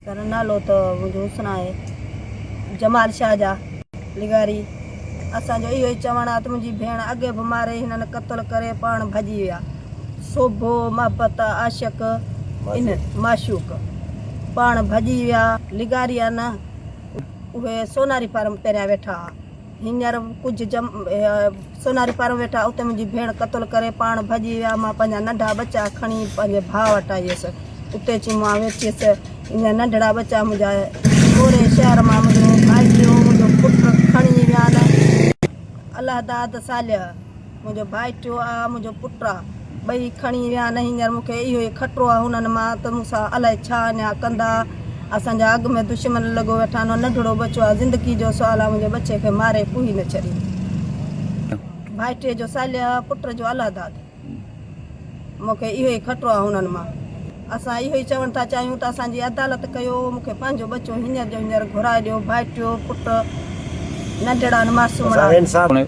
ٿر نالو ته منهنجو حسن آهي جمال شاهه جا. لغاري، اسان جو اهو ئي چوڻ آ ته منهنجي ڀيڻ اڳي به ماري هنن قتل ڪري پاڻ ڀڄي ويا. سوڀو، محبت، عاشق، ان، معشوق، پاڻ ڀڄي ويا. لغاري، نه اهي سوناري فارم پهريان ويٺا ها. هينئر ڪجهه جم سوناري پارو ويٺا اتي منهنجي ڀيڻ قتل ڪري پاڻ ڀڄي ويا مان پنهنجا ننڍا ٻچا کڻي پنهنجي ڀاء وٽ آئي هيس اتي اچي مان ويٺيس هينئر ننڍڙا ٻچا منهنجا پوري شهر مان منهنجو ڀائٽيو منهنجو پٽ کڻي ويا نه الله داد صالح منهنجو ڀائٽيو آ، منهنجو پٽ آ، ٻئي کڻي ويا نه هينئر مون کي اهو ئي خطرو آ هنن مان ته مون سان الائي ڇا اڃا ڪندا، اسان جا اڳ ۾ دشمن لڳو ويٺا آهن، ننڍڙو ٻچو آ، زندگي جو سوال آ، منهنجي ٻچي کي ماري ڪوهي نه ڇڏي. ڀائٽيء جو سالياء پٽ جو الله داد، مون کي اهو ئي خطرو آ هنن مان، اسان اهو ئي چوڻ ٿا چاهيون ته اسان جي عدالت ڪيو، مون کي پنهنجو ٻچو هينئر جو هينئر گهرائي ڏيو، ڀائٽيو، پٽ، ننڍڙا آهن، معصومڙا آهن.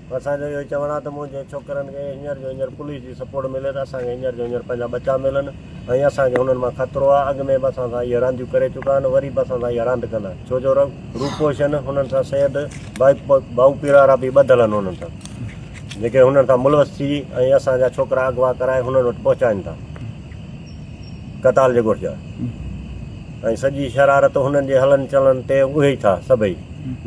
اسان جو اهو چوڻ آهي ته منهنجي ڇوڪرن کي هينئر جو هينئر پوليس جي سپورٽ ملي ته اسان کي هينئر جو هينئر پنهنجا ٻچا ملن ۽ اسان کي هنن مان خطرو آهي اڳ ۾ به اسان سان اهي رانديون ڪري چڪا آهن وري به اسان سان اها راند ڪندا ڇو جو روپوشن هنن سان سيد بائو پيرارا به ٻڌل آهن هنن سان جيڪي هنن سان ملوث ٿي ۽ اسان جا ڇوڪرا اغوا ڪرائي هنن وٽ پهچائن ٿا قتال جي ڳوٺ جا ۽ سڄي شرارت هنن جي هلن چلن تي اهي ئي ٿا سڀئي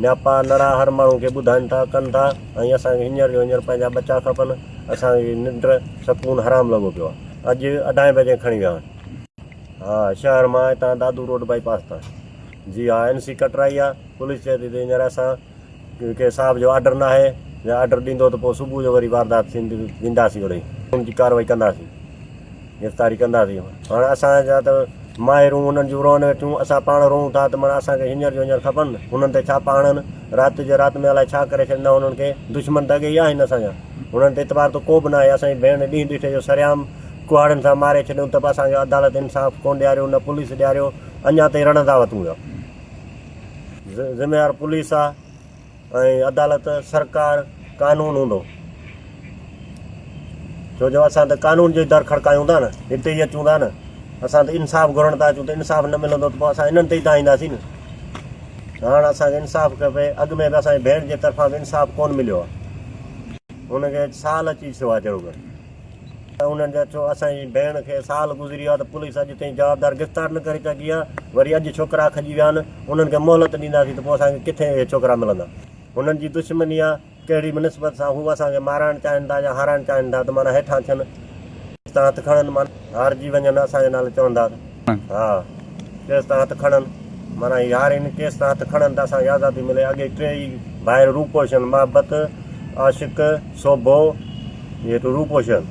نياپا نڙا هر ماڻهو کي ٻڌائن ٿا ڪن ٿا ۽ اسان کي هينئر جو هينئر پنهنجا ٻچا کپن اسان کي ننڊ سڪون حرام لڳو پيو آهي اڄ اڍائين بجي کڻي ويا آهن ها شهر مان هتان دادو روڊ بائي پاس تان جي ها اين سي ڪٽرائي آهي پوليس چئي ٿي ته هينئر اسان ڪيونڪه ڪنهن صاحب جو آرڊر ناهي، جي آرڊر ڏيندو ته پوء صبح جو وري واردات ٿيندي وينداسين اڙي ان جي ڪارروائي ڪنداسين گرفتاري ڪنداسين هاڻ اسان جا ته مائرون انهن جون روئن ويٺيون اسان پاڻ روئون ٿا ته مڙا اسان کي هينئر جو هينئر کپن هنن تي ڇاپا هڻن رات جي رات ۾ الاء ڇا ڪري ڇڏيندا هنن کي دشمن ته اڳي ئي آهن اسان جا هنن تي اعتبار ته ڪو به ناهي اسان جي ڀيڻ ڏينهن ڏٺي جو سرعام ڪهاڙن سان ماري ڇڏيون ته به اسان کي عدالت انصاف ڪونه ڏياريو نه پوليس ڏياريو اڃا تائين رڙندا وتون ويا. ذميوار پوليس آ ۽ عدالت سرڪار قانون هوندو ڇو جو اسان ته قانون جي در کڙڪايون ٿا نه هتي ئي اچون ٿا نه اسان ته انصاف گهرڻ ٿا اچون ته انصاف نه ملندو ته پوء اسان انهن تي ئي دانهينداسين نه هاڻ اسان کي انصاف کپي اڳ ۾ به اسان جي ڀيڻ جي طرفان به انصاف ڪون مليو آ هن کي سال اچي ٿيو آ جهڙوڪر ته انهن جا ڇو اسان جي ڀيڻ کي سال گذري ويو آهي ته پوليس اڄ تائين جوابدار گرفتار نه ڪري سگهي آهي وري اڄ ڇوڪرا کڄي ويا آهن انهن کي مهلت ڏينداسين ته پوء اسان کي ڪٿي اهي ڇوڪرا ملندا هنن جي دشمني آهي ڪهڙي به نسبت سان هو اسان کي مارائڻ چاهين ٿا يا هارائڻ چاهين ٿا ته معنيٰ هيٺان ٿين تان هٿ کڻن معنيٰ هارجي وڃن اسان جي نالي چوندا ته. ها ڪيس تان هٿ کڻن معنيٰ يارين ڪيس تان هٿ کڻن ته اسان کي آزادي ملي اڳي ٽي ئي ڀائر روپوشن محبت عاشق سوڀو روپوشن